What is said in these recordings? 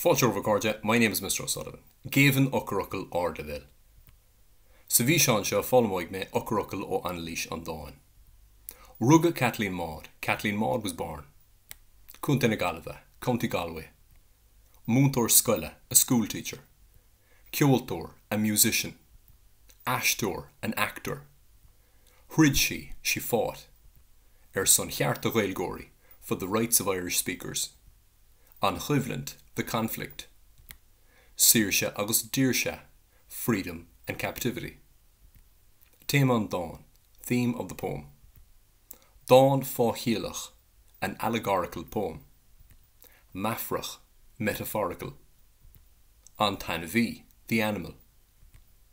Fáilte romhaibh a chairde, my name is Mr O'Sullivan. Géibheann eochairfhocail ardleibhéil. Sa bhfíseán seo foghlaimeoidh mé eochairfhocail ó anailís an dáin. Rugadh Caitlín Maude, Caitlín Maude was born. Contae na Gaillimhe, County Galway. Múinteoir scoile, a school teacher. Ceoltóir, a musician. Aisteoir, an actor. Throid sí, she fought, ar son chearta Ghaeilgeoirí, for the rights of Irish speakers. An choimhlint, the conflict. Saoirse agus daoirse, freedom and captivity. Téama an dáin, theme of the poem. Dán fáithchiallach, an allegorical poem. Meafarach, metaphorical. An t-ainmhí, the animal.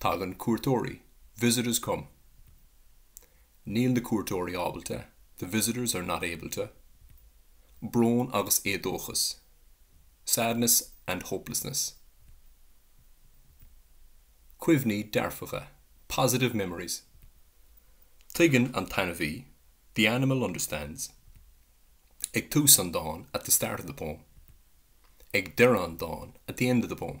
Tagann cuairteoirí, visitors come. Níl na cuairteoirí ábalta, the visitors are not able to. Brón agus éadóchas, sadness and hopelessness. Cuimhní dearfacha, positive memories. Tuigeann an t-ainmhí, the animal understands. Ag tús an dáin, at the start of the poem. Ag deireadh an dáin, at the end of the poem.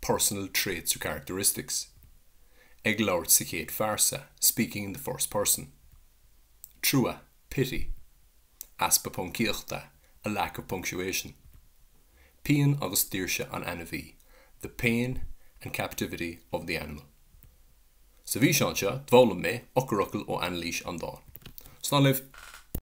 personal traits or characteristics ag labhairt sa chéad phearsa speaking in the first person trua pity easpa poncaíochta a lack of punctuation pian agus daoirse an ainmhí the pain and captivity of the animal Sa bhfíseán seo, d'fhoghlaim mé eochairfhocail ó anailís an dáin. Slán libh!